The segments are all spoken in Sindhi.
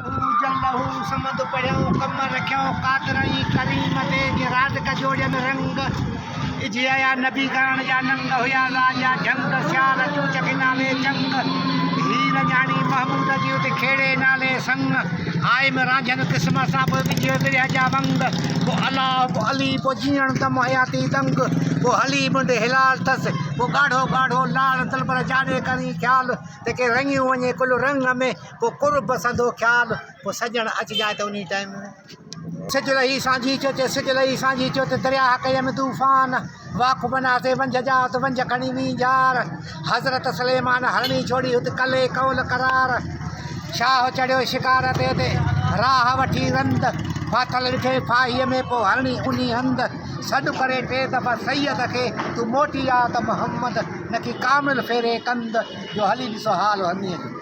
اوجل لهو سمند پڙهيو ڪم رکيو قادر ۽ ڪريم تي جي راز ڪجوڙين رنگ اجهيا نبي گاڻ جا ننگ هيا راز جا جهنگ سيال چوچ کي نالي چنگ هير جهاڻي محمود جي ات کيڙي نالي سنگ هائم رانجهن قسم سان به وجهيو ورهيه جا ونگ پو الله پو علي پو جيئڻ دم حياتي دنگ پو هلي منڊ هلال ٿس پو ڳاڙهو ڳاڙهو لال دلبر جاڏي ڪرين خيال تنهن کي رڱيون وڃي ڪل رنگ ۾ ڪو ڪر بسندو خيال، ڪو سڄڻ اچ جاء ته انهي ٽائيم ۾. سج لهي سانجهي ٿيو چي، سج لهي سانجهي ٿيو ته درياهه ڪيم طوفان، واک بنا تي ونجهه جاء ته ونجهه کڻي وين جار، حضرت سليمان هرڻي ڇوڙي هت ڪلهي قول قرار، شاهه چڙهيو شڪار تي ته راهه وٺي رند، ڦاٿل ڏٺئي ڦاهيء ۾ پوء هرڻي انهي هنڌ، سڏ ڪري ٽي دفعا سيد کي تون موٽي آ ته محمد نڪي ڪامل ڦيري ڪنڌ، جو هلي ڏسو حال هرڻيء جو.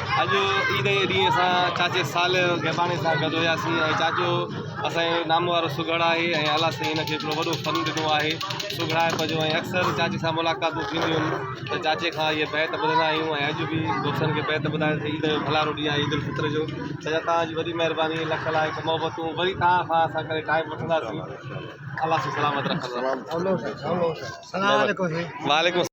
اڄ عيد جي ڏينهن اسان چاچي صالح گيباڻي سان گڏ هياسين ۽ چاچو اسانجو نامو وارو سگهڙ آهي ۽ الله سائين هن کي هڪڙو وڏو فن ڏنو آهي سگهڙائپ جو ۽ اڪثر چاچي سان ملاقاتون ٿينديون آهن ته چاچي کان اهي بيت ٻڌندا آهيون ۽ اڄ به دوستن کي بيت ٻڌائي عيد جو ڀلارو ڏينهن آهي عيدالفطر جو چاچا توهان جي وڏي مهرباني لک لائق محبتون وري توهان کان اسان ڪڏهن ٽائيم وٺنداسين الله سائين سلامت رکندو